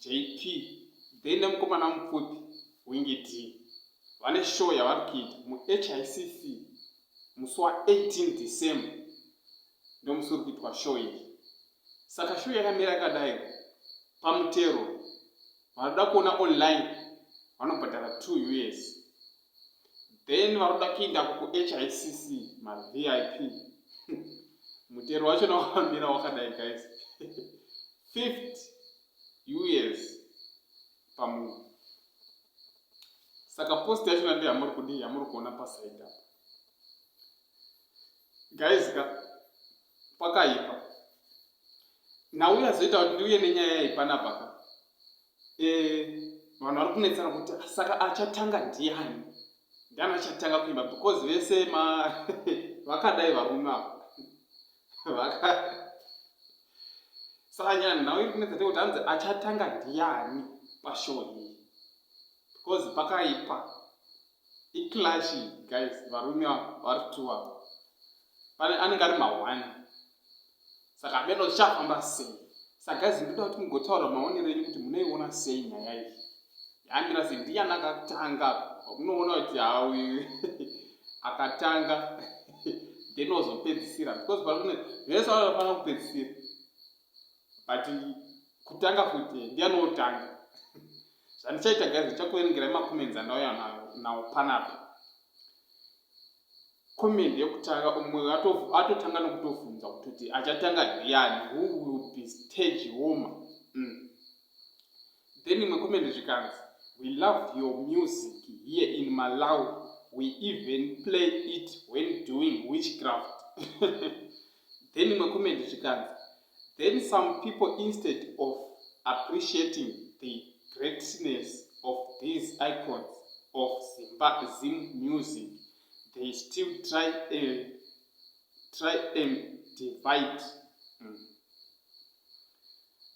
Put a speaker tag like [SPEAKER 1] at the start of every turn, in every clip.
[SPEAKER 1] JP then nemukomana mupfupi Wingy Dee vane show yavari kuita muHICC musi wa 18 December ndomusi uri kuitwa show iyi. Saka show yakamira yakadai pamutero vanoda kuona online vanobhadhara 2 us then vanoda kuinda kuhicc mavip mutero wacho nawamira wakadai guys fifth us pamunhu saka post yacho nande yamuri kudii yamuri kuona pasaida guys ka pakaipa Now yazoita kuti ndiuye nenyaya yayi panapa ka. Eh, vanhu vari kunetsana kuti saka achatanga ndiani? Ndiani achatanga kuimba because vese ma vakadai varume ava. Vaka Saka nyaya nhau iri kunetsa kuti hanzi achatanga ndiani pashow iyi. Because pakaipa. Iclash guys, varume ava vari two ava. Pane anenge ari ma one. saka hameno zvichafamba sei saka zi ndoda kuti mugotaura maonero enyu kuti munoiona sei nyaya iyi yamira se ndiyani akatanga unoona kuti hawi akatanga then wazopedzisira because paune vese vanofanira kupedzisira but kutanga futi ndiyani wotanga zvandichaita gazi ndichakuverengerai macomments andauya nawo panapa comment yekutanga umwe atotanga nokutobvunza kutoti achatanga ndiani who will be stage womer mm. then imwe comment zvikanzi we love your music here in malawi we even play it when doing witchcraft then imwe comment zvikanzi then some people instead of appreciating the greatness of these icons of zimba zim music they still try and try and divide mm.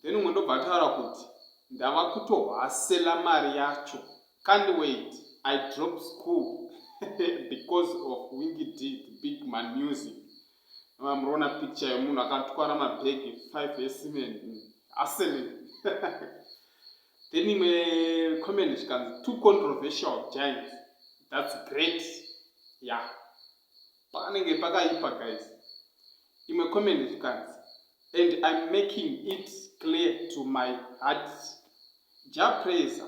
[SPEAKER 1] then umwe ndobva ataura kuti ndava kutohwasela mari yacho can't wait i drop school because of winky did big man music Mama murona picture yemunhu akatwara mabag 5 esemen asemen then imwe comment chikanzi two controversial giants that's great ya yeah. panenge pakaipa guys imwe comment chikanzi and im making it clear to my heart japraiser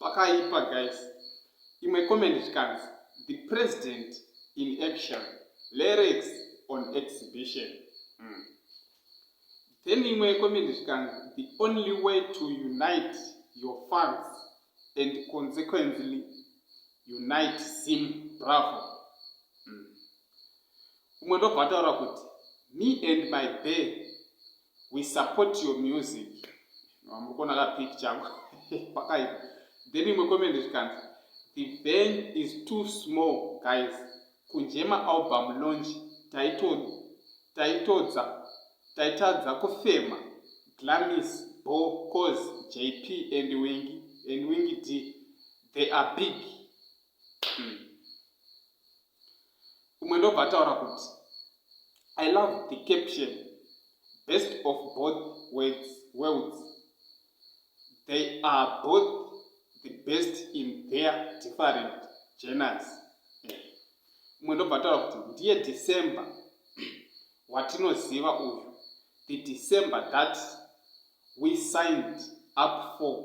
[SPEAKER 1] Pakaipa guys. Imwe comment chikanzi the president in action lyrics on exhibition. Mm. Then imwe comment chikanzi the only way to unite your fans and consequently unite sim bravo. Mm. Umwe ndobva ataura kuti me and my bear we support your music muri kuona ka pic chako pakaipa then imwe comment zvikanzi the van is too small guys kunje maalbum launch taitodza taitadza kufema glamis bo cause jp and wingi and wingi d they are big mm. umwe ndobva ataura kuti i love the caption best of both words, worlds they are both the best in their different geners eh, umwe ndobva ataura kuti ndiye december watinoziva uyu the december that we signed up for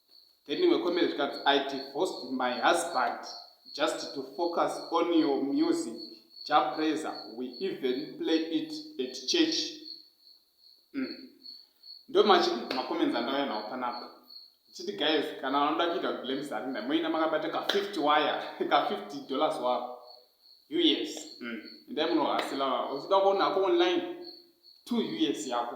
[SPEAKER 1] Then imwe comment zvikanzi I divorced my husband just to focus on your music Jah Prayzah we even play it at church. Mm. Ndo machi macomments andauya nawo panapa. Chiti guys kana vanoda kuita blame Zarina moina makabata ka 50 wire ka 50 dollars wako. US. Mm. Ndai munohasila uchida kuona hako online 2 US yako.